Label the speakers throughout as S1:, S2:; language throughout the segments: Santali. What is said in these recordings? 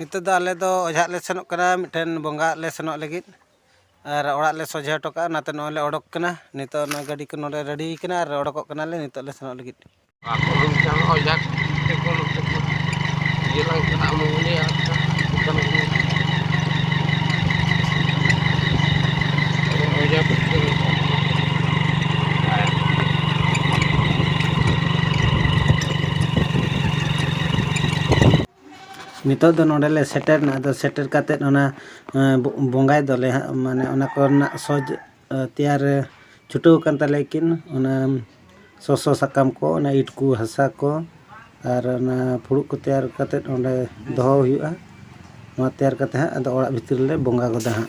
S1: ᱱᱤᱛᱚᱜ ᱫᱚ ᱟᱞᱮ ᱫᱚ ᱚᱡᱷᱟᱜ ᱞᱮ ᱥᱮᱱᱚᱜ ᱠᱟᱱᱟ ᱢᱤᱫᱴᱮᱱ ᱵᱚᱸᱜᱟᱣᱟᱜ ᱞᱮ ᱥᱮᱱᱚᱜ ᱞᱟᱹᱜᱤᱫ ᱟᱨ ᱚᱲᱟᱜ ᱞᱮ ᱥᱚᱡᱷᱮ ᱦᱚᱴᱚ ᱠᱟᱜᱼᱟ ᱚᱱᱟᱛᱮ ᱱᱚᱜᱼᱚᱭ ᱞᱮ ᱚᱰᱚᱠ ᱠᱟᱱᱟ ᱱᱤᱛᱚᱜ ᱱᱚᱜᱼᱚᱭ ᱜᱟᱹᱰᱤ ᱠᱚ ᱱᱚᱰᱮ ᱨᱮᱰᱤ ᱠᱟᱱᱟ ᱟᱨ ᱚᱰᱚᱠᱚᱜ ᱠᱟᱱᱟᱞᱮ ᱱᱤᱛᱚᱜ ᱞᱮ ᱥᱮᱱᱚᱜ ᱞᱟᱹᱜᱤᱫ ᱱᱤᱛᱚᱜ ᱫᱚ ᱱᱚᱰᱮ ᱞᱮ ᱥᱮᱴᱮᱨ ᱮᱱᱟ ᱟᱫᱚ ᱥᱮᱴᱮᱨ ᱠᱟᱛᱮᱫ ᱚᱱᱟ ᱵᱚᱸᱜᱟᱭ ᱫᱚᱞᱮ ᱦᱟᱸᱜ ᱢᱟᱱᱮ ᱚᱱᱟ ᱠᱚᱨᱮᱱᱟᱜ ᱥᱚᱡᱽ ᱛᱮᱭᱟᱨ ᱨᱮ ᱪᱷᱩᱴᱟᱹᱣ ᱟᱠᱟᱱ ᱛᱟᱞᱮᱭᱟ ᱠᱤᱱ ᱚᱱᱟ ᱥᱚᱥᱚ ᱥᱟᱠᱟᱢ ᱠᱚ ᱚᱱᱟ ᱤᱴ ᱠᱚ ᱦᱟᱥᱟ ᱠᱚ ᱟᱨ ᱚᱱᱟ ᱯᱷᱩᱲᱩᱜ ᱠᱚ ᱛᱮᱭᱟᱨ ᱠᱟᱛᱮᱫ ᱚᱸᱰᱮ ᱫᱚᱦᱚ ᱦᱩᱭᱩᱜᱼᱟ ᱱᱚᱣᱟ ᱛᱮᱭᱟᱨ ᱠᱟᱛᱮᱫ ᱦᱟᱸᱜ ᱟᱫᱚ ᱚᱲᱟᱜ ᱵᱷᱤᱛᱤᱨ ᱨᱮᱞᱮ ᱵᱚᱸᱜᱟ ᱜᱚᱫᱟ ᱦᱟᱸᱜ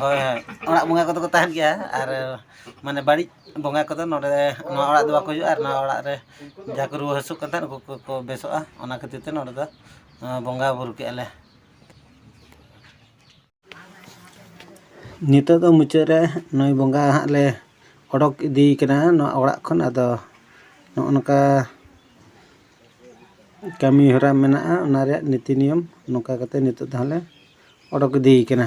S1: ᱦᱳᱭ ᱦᱳᱭ ᱚᱲᱟᱜ ᱵᱚᱸᱜᱟ ᱠᱚᱫᱚ ᱠᱚ ᱛᱟᱦᱮᱱ ᱜᱮᱭᱟ ᱟᱨ ᱢᱟᱱᱮ ᱵᱟᱹᱲᱤᱡ ᱵᱚᱸᱜᱟ ᱠᱚᱫᱚ ᱱᱚᱰᱮ ᱱᱚᱣᱟ ᱚᱲᱟᱜ ᱫᱚ ᱵᱟᱠᱚ ᱦᱤᱡᱩᱜᱼᱟ ᱟᱨ ᱱᱚᱣᱟ ᱚᱲᱟᱜ ᱨᱮ ᱡᱟᱦᱟᱸᱭ ᱠᱚ ᱨᱩᱣᱟᱹ ᱦᱟᱹᱥᱩᱜ ᱠᱟᱱ ᱛᱟᱦᱮᱸᱫ ᱩᱱᱠᱩ ᱠᱚᱠᱚ ᱵᱮᱥᱚᱜᱼᱟ ᱚᱱᱟ ᱠᱷᱟᱹᱛᱤᱨ ᱛᱮ ᱱᱚᱰᱮ ᱫᱚ ᱵᱚᱸᱜᱟ ᱵᱩᱨᱩ ᱠᱮᱜᱼᱟ ᱞᱮ ᱱᱤᱛᱚᱜ ᱫᱚ ᱢᱩᱪᱟᱹᱫ ᱨᱮ ᱱᱩᱭ ᱵᱚᱸᱜᱟ ᱦᱟᱸᱜ ᱞᱮ ᱚᱰᱚᱠ ᱤᱫᱤ ᱠᱟᱱᱟ ᱱᱚᱣᱟ ᱚᱲᱟᱜ ᱠᱷᱚᱱ ᱟᱫᱚ ᱱᱚᱜᱼᱚ ᱱᱚᱝᱠᱟ ᱠᱟᱹᱢᱤ ᱦᱚᱨᱟ ᱢᱮᱱᱟᱜᱼᱟ ᱚᱱᱟ ᱨᱮᱭᱟᱜ ᱱᱤᱛᱤ ᱱᱤᱭᱚᱢ ᱱᱚᱝᱠᱟ ᱠᱟᱛᱮ ᱱᱤᱛᱚᱜ ᱫᱚ ᱦᱟᱸᱜ ᱞᱮ ᱚᱰᱚᱠ ᱤᱫᱤᱭᱮ ᱠᱟᱱᱟ